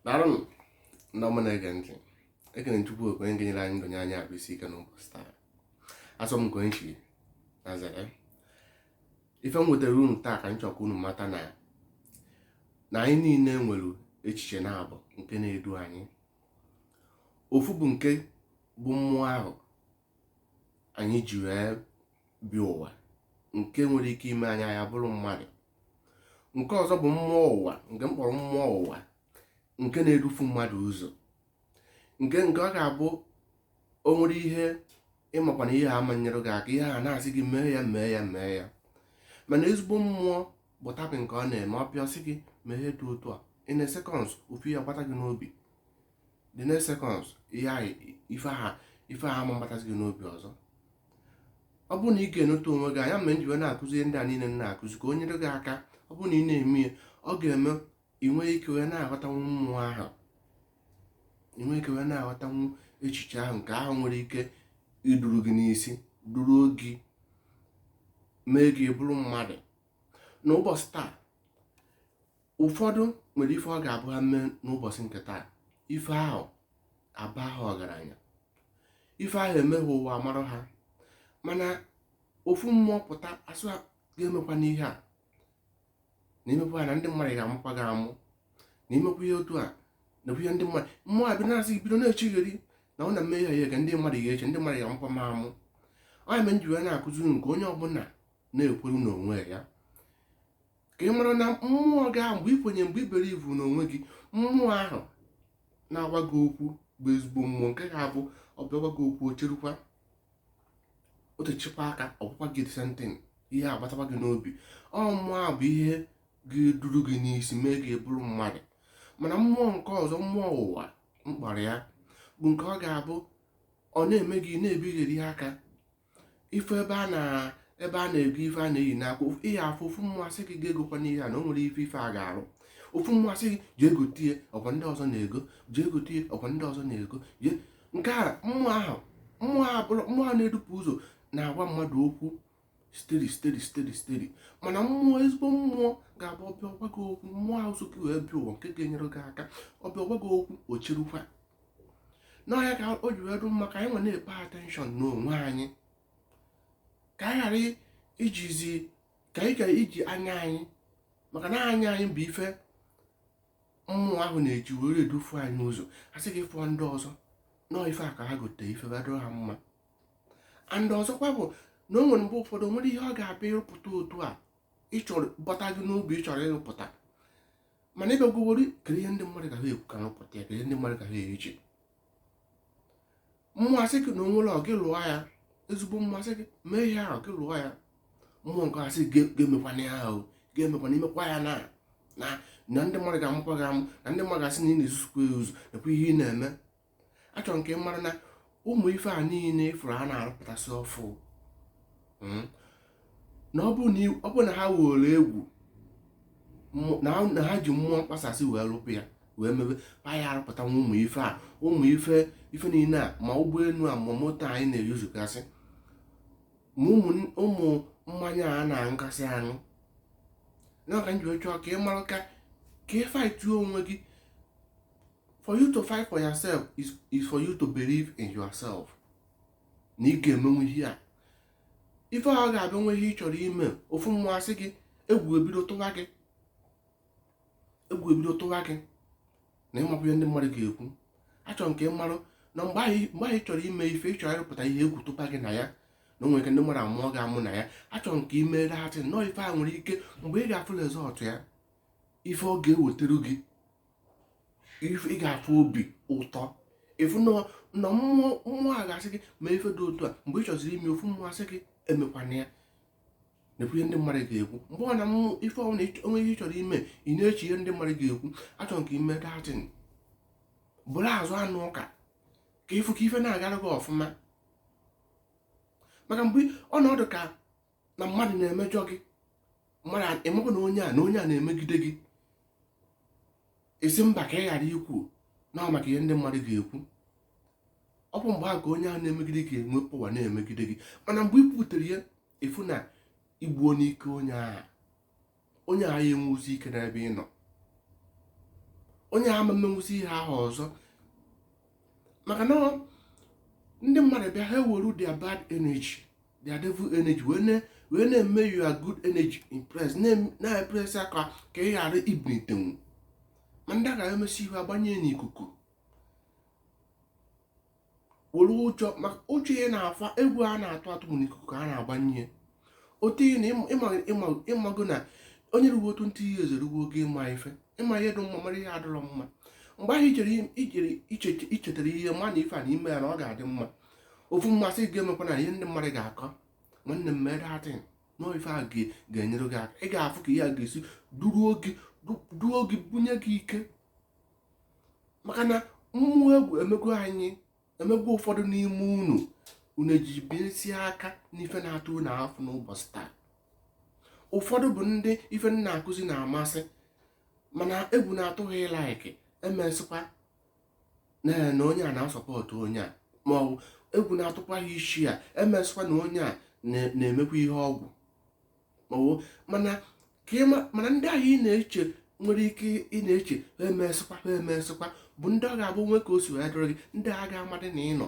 daalụnụ ndị ọma na-ege ntị ekene chukwu okike nke nyere anyị ndụ nye anyị ahụ isi ike n'ụbọchị taa asọ m nke nchi na zere ife m wetara unu taa ka m chọkwa unu mata na na anyị niile nwere echiche naabọ nke na-edu anyị ofu bụ nke bụ mmụọ ahụ anyị ji wee bịa ụwa nke nwere ike ime anyị anyị abụrụ mmadụ nke ọzọ bụ mmụọ ụwa nke m kpọrọ mmụọ ụwa nke na-edufu mmadụ ụzọ nke nke ọ ga-abụ o nwere ihe ị makwa na ihe a ama nyere gị aka ihe a na-asị gị mee ya mee ya mee ya mana ezigbo mmụọ bụ type nke ọ na-eme ọ bịa sị gị mee ihe dị otu a in a seconds ofu ya gbata gị n'obi the next seconds ife ahụ ama agbatazi gị n'obi ọzọ ọ bụrụ na ị ga-eneta onwe gị anya mere m ji wee na-akụzi ihe ndị a niile m na-akụzi ka o nyere gị aka ọ bụrụ na ị na-eme ya ọ ga-eme ị nwee ike wee na-aghọtanwu mmụọ ahụ ị nwee ike wee na-aghọtanwu echiche ahụ nke ahụ nwere ike iduru gị n'isi duruo gị mee gị bụrụ mmadụ n'ụbọchị taa ụfọdụ nwere ife ọ ga-abụ ha mee n'ụbọchị nke taa ife ahụ aba ha ọgaranya ife ahụ emee ụwa amara ha mana ofu mmụọ pụta asị gị emekwana ihe a na i mekwa na ndị mmadụ ga-amụkwa gị amụ na i mekwa ihe otu a na ihe ndị mmadụ mmụọ abịa na-asị bido na-echegheri na ọ na m mee ihe a ka ndị mmadụ ga-eche ndị mmadụ ga-amụkwa m amụ ọ ya mere m ji wee na-akụzi unu ka onye ọbụla na-ekwere n'onwe ya ka ị mara na mmụọ gị ahụ mgbe i kwenye mgbe i believe n'onwe gị mmụọ ahụ na-agwa gị okwu bụ ezigbo mmụọ nke ga-abụ ọ bịa gwa gị okwu o cherukwa o techakwa aka ọ gwakwa gị the same thing ihe agbatakwa gị n'obi ọ mmụọ a bụ ihe ga-eduru gị n'isi mee gị bụrụ mmadụ mana mmụọ nke ọzọ mmụọ ụwa m kpọrọ ya bụ nke ọ ga-abụ ọ na-eme gị na-ebigheri aka ife ebe a na-ego ife a na-eyi n'akwa ị ya afụ ofu mmụọ asị gị egokwana ihe a na o nwerọ ife a ga-arụ ofu mmụọ asị gị jee gote ya ọkwa ndị ọzọ na-ego jee gote ya ọkwa ndị ọzọ na-ego jee nke a mmụọ ahụ mmụọ a bụrụ mmụọ a na-edufu ụzọ na-agwa mmadụ okwu steady steady steady steady mana mmụọ ezigbo mmụọ ga-abụ ọ bịa ọ gwa gị okwu mmụọ ahụ so gị wee bịa ụwa nke ga-enyere gị aka ọ bịa ọ gwa gị okwu o cherukwa na ọ ya ka o ji wee dụ mma ka anyị wee na-epay attention n'onwe anyị ka anyị ghara ijizi ka anyị ghara iji anya anyị maka na anya anyị bụ ife mmụọ ahụ na-eji were edufu anyị ụzọ a sị gị fụọ ndị ọzọ na ọ ife a ka ha gote ife adụ ha mma and ọzọkwa bụ na o nwere mgbe ụfọdụ o nwere ihe ọ ga-abụ ị rụpụta otu a ị chọrọ bata gị n'obi ị chọrọ ịrụpụta mana ebe gwogori kere ihe ndị mmadụ ga-ekwu ka ha pụta ya kere ndị mmadụ ga-eche mmụọ asị gị na o nwere ọ gị lụọ ya ezigbo mmụọ asị gị mee ihe ahụ gị lụọ ya mmụọ nke a asị gị emekwana ya ahụ ga-emekwana imekwa ya na na ndị mmadụ ga-amụkwa gị amụ na ndị mmadụ ga-asị na ị na-ezuzukwa ya ozu nakwa ihe ị na-eme achọrọ m ka ị mara na ụmụ ife a niile ị fụrụ a na-arụpụtasị ọfụ hmm, na ọ bụ na ha were egwu na ha ji mmụọ mkpasasị wee rụpụ ya wee mebe pa ya arụpụta nwa ụmụ ife a ụmụ ife ife niile a ma ụgbọelu a ma moto anyị na-eyuzugasị ma ụmụ mmanya a na-aṅụgasị aṅụ ya ka m ji chọọ ka ị mara ka ka ị fightuo onwe gị for you to fight for yourself is, is for you to believe in yourself na ị ga-emenwu ihe a ife ahụ ga-abịa nwe ihe ị chọrọ ime ofu mmụọ asị gị egwu ebido tụwa gị egwu ebido tụwa gị na ị marọ ihe ndị mmadụ ga-ekwu achọrọ m ka ị marụ na mgbe ahụ ị chọrọ ime ife ị chọrọ ịrụpụta ihe egwu tụba gị na ya na o nwere ike ndị mmadụ amụọ gị amụ na ya achọrọ m ka ị mee that thing nọọ ife a nwere ike mgbe ị ga-afụ result ya ife ọ ga-ewetara gị ị ga-afụ obi ụtọ ị fụ na mmụọ mmụọ a ga-asị gị mee ife dị otu a mgbe ị chọziri ime ofu mmụọ asị gị emekwana ya na-ekwu ihe ndị mmadụ ga-ekwu mgbe ọ na mmụ ife ọwụna o nwe ihe ị chọrọ ime ị na-eche ihe ndị mmadụ ga-ekwu achọrọ m ka ị mee that thing bụrụ azụ anụ ụka ka ị fụ ka ife na-agara gị ọfụma maka mgbe ọ na-adị ka na mmadụ na-emejọ gị mmadụ ị makwa na onye a na onye a na-emegide gị ị sị mba ka ị ghara ikwu na maka ihe ndị mmadụ ga-ekwu ọ bụ mgbe ahụ ka onye ahụ na-emegide gị enwe power na-emegide gị mana mgbe ị kwutere ya ị fụ na i gbuona ike onye ahụ onye a ya enwezi ike n'ebe ị nọ onye a ama emenwuzi ihe ahụ ọzọ maka na ndị mmadụ bịa ha ewere their bad energy their devil energy wee na wee na-eme your good energy impress na-epress ya ka ị ghara ibinitenwu ma ndị a ga-emesi ihe agbanye n'ikuku were ụjọ maka ụjọ ya na-afa egwu a na-atụ atụ mụ n'ikuku ka a na-agbanye ya otu na ị mago na onye ruwe twenty years erugo oge ịma ife ịma ihe dị mma mara ihe adịrọ mma mgbe ahụ ijere ị chetara ihe ma na ife a na i mee ya na ọ ga-adị mma ofu mmụọ asị gị emekwana ihe ndị mmadụ ga-akọ nwanne m mee that thing na ife a ga-enyere gị aka ị ga-afụ ka ihe a ga-esi duo gị bunye gị ike maka na mmụọ egwu emego anyị emego ụfọdụ n'ime unu unu eji binyesie aka n'ife na-atụ unu afọ n'ụbọchị taa ụfọdụ bụ ndị ife m na-akụzi na-amasị mana egwu na-atụ ha ị-like emesịkwa na onye a na-asupport onye a ma ọ bụ egwu na-atụkwa ha ị-share emesịkwa na onye a na-emekwa ihe ọgwụ ọwụ mana ka ịma mana ndị ahụ ị na-eche nwere ike ị na-eche ha emesịkwa ha emesịkwa bụ ndị ọ ga-abụ o nwee ka o si wee dịrị gị ndị a ga-amadị na ị nọ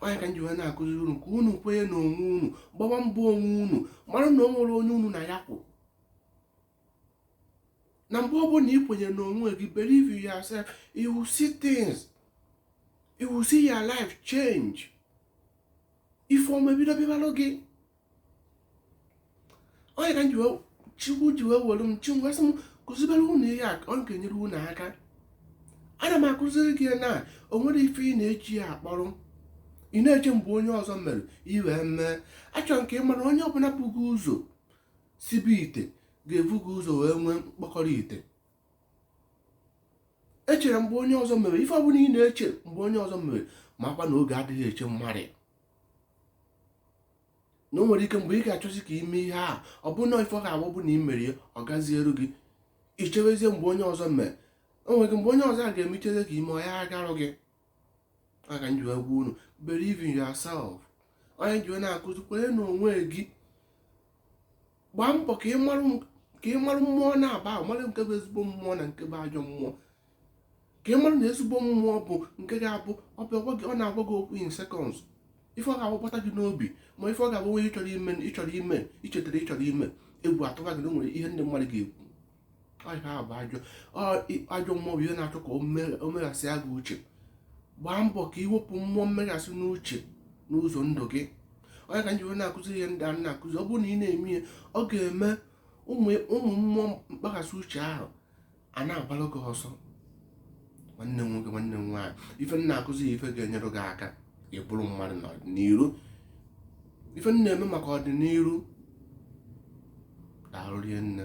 ọ ya ka m ji wee na-akụziri unu ka unu kwenye na onwe unu gbawa mbọ onwe unu mara na o nwerọ onye unu na ya kwụ na mgbe ọ bụla ị kwenyere n'onwe gị believe in yourself you will see things you will see your life change ife ọma ebido bịabalụ gị ọ ya ka chukwu ji wee were m chi m wee sị m kụzibere unu ihe a ọ ga-enyere unu aka ana m akụziri gị na o nwere ife ị na-eji ya akpọrọ ị na-eche mgbe onye ọzọ mere i wee mee achọrọ m ka ị mara onye ọbụla bu gị ụzọ sibe ite ga-ebu gị ụzọ wee nwee mkpọkọrọ ite i chere mgbe onye ọzọ mere ife ọbụla ị na-eche mgbe onye ọzọ mere makwa na oge adịghị eche mmadụ na o nwere ike mgbe ị ga-achọzi ka i mee ihe a ọ bụ na ife ọ ga-abụ bụ na ị mere ya ọ gazieru gị ichewezie mgbe onye ọzọ mere o nwere ike mgbe onye ọzọ a ga-emechazi ka i mee ọ ya agarụ gị ya ka m ji wee gwa unu believe in yourself ọ ya m ji wee na-akụzi kwenye na onwe gị gbaa mbọ ka ị marụ mmụọ naabọ ahụ mara nke bụ ezigbo mmụọ na nke bụ ajọ mmụọ ka ị mara na ezigbo mmụọ bụ nke ga-abụ ọ na-agwa gị okwu in seconds ife ọ ga-abụ gbata gị n'obi ma ife ọ ga-abụ onye ichetara ịchọrọ ime egwu atụba gị na o nwere ihe ndị mmadụ ga-ekwu ajọ mmụọ bụ ihe na-achọ ka o meghasịa gị uche gbaa mbọ ka i wepụ mmụọ mmeghasị n'uche n'ụzọ ndụ gị ọ ya ka m ji wee na-akụzi ihe ndị a m na-akụzi ọ bụrụ na ị na-eme ihe ọ ga-eme ụmụ mmụọ mkpaghasị uche ahụ a na-agbara gị ọsọ nwanne m nwoke nwanne m nwaanyị ife m na-akụzi ife ga-enyere gị aka ịbụrụ mmadụ n'ọdịnihu ife m na-eme maka ọdịnihu daalụ rinne